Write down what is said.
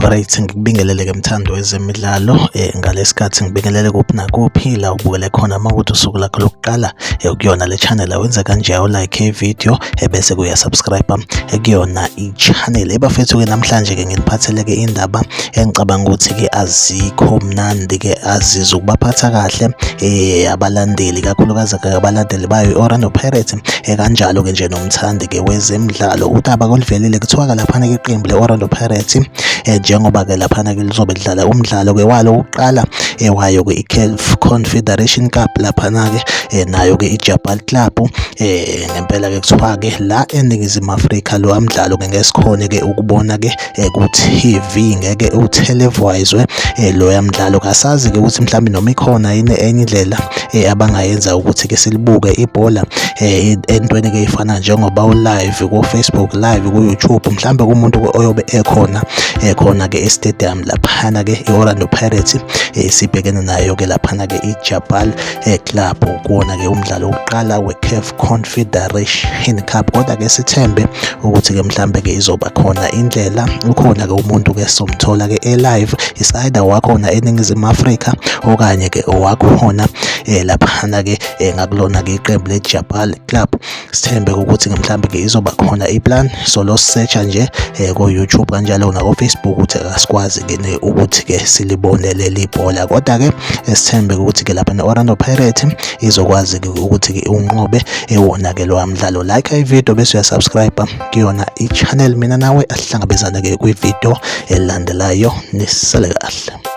Alright ngikubingelele ke mthando wezemidlalo eh ngalesikhathi ngibingelele kuphi nakuphi la ubukele khona mawuthi usuku lakho lokuqala eh, ukuyona le channel awenza kanje u like i video ebese eh, kuya subscribe eh, kuyona channel ebafethu-ke namhlanje-ke nginiphathele-ke indaba engicabanga ukuthi-ke azikho mnandi-ke azizwe ukubaphatha kahle eh abalandeli kakhulukazi-ke abalandeli bayo i-orlando pirates eh, kanjalo-ke nje nomthandi-ke wezemidlalo udaba koluvelile kuthiwa-ke laphana-ke iqembu le-orlando pirates eh, njengoba-ke laphana-ke lizobe lidlala umdlalo-ke walo wokuqala eh, wayo-ke i-calf confederation cup laphana-ke nayo-ke ijabal club eh ngempela ke kuthiwa ke la eningizimu Afrika lo mdlalo ke ngesikhone ke ukubona ke eh, ku TV ngeke uteleviswe eh, lo mdlalo kasazi ke ukuthi mhlawumbe noma ikhona yini enye indlela eh, abangayenza ukuthi ke silibuke ibhola entweni ke ifana njengoba u live ku Facebook live ku YouTube mhlawumbe kumuntu oyobe ekhona ekhona ke e stadium laphana ke i Orlando Pirates isibhekene nayo ke laphana ke i Jabal e-club kuwona-ke umdlalo wokuqala we-caf confederation cup kodwa-ke sithembe ukuthi-ke mhlambe-ke izoba khona indlela ukhona-ke umuntu-ke somthola-ke e-live is-either wakhona eningizimu afrika okanye-ke owakhona um laphana-ke um ngakulona-ke iqembu le-jabal club sithembe ukuthi mhlawumbe ke izoba khona iplan so lo searcha nje eh, ko YouTube kanjalo na ko Facebook ukuthi akasikwazi ke ne ukuthi ke silibone leli bhola kodwa ke esithembe ukuthi ke lapha ne Orlando Pirates izokwazi ke ukuthi ke unqobe ewona ke lo mdlalo like i video bese uyasubscribe kuyona i channel mina nawe asihlangabezane ke kwi video elandelayo nisale kahle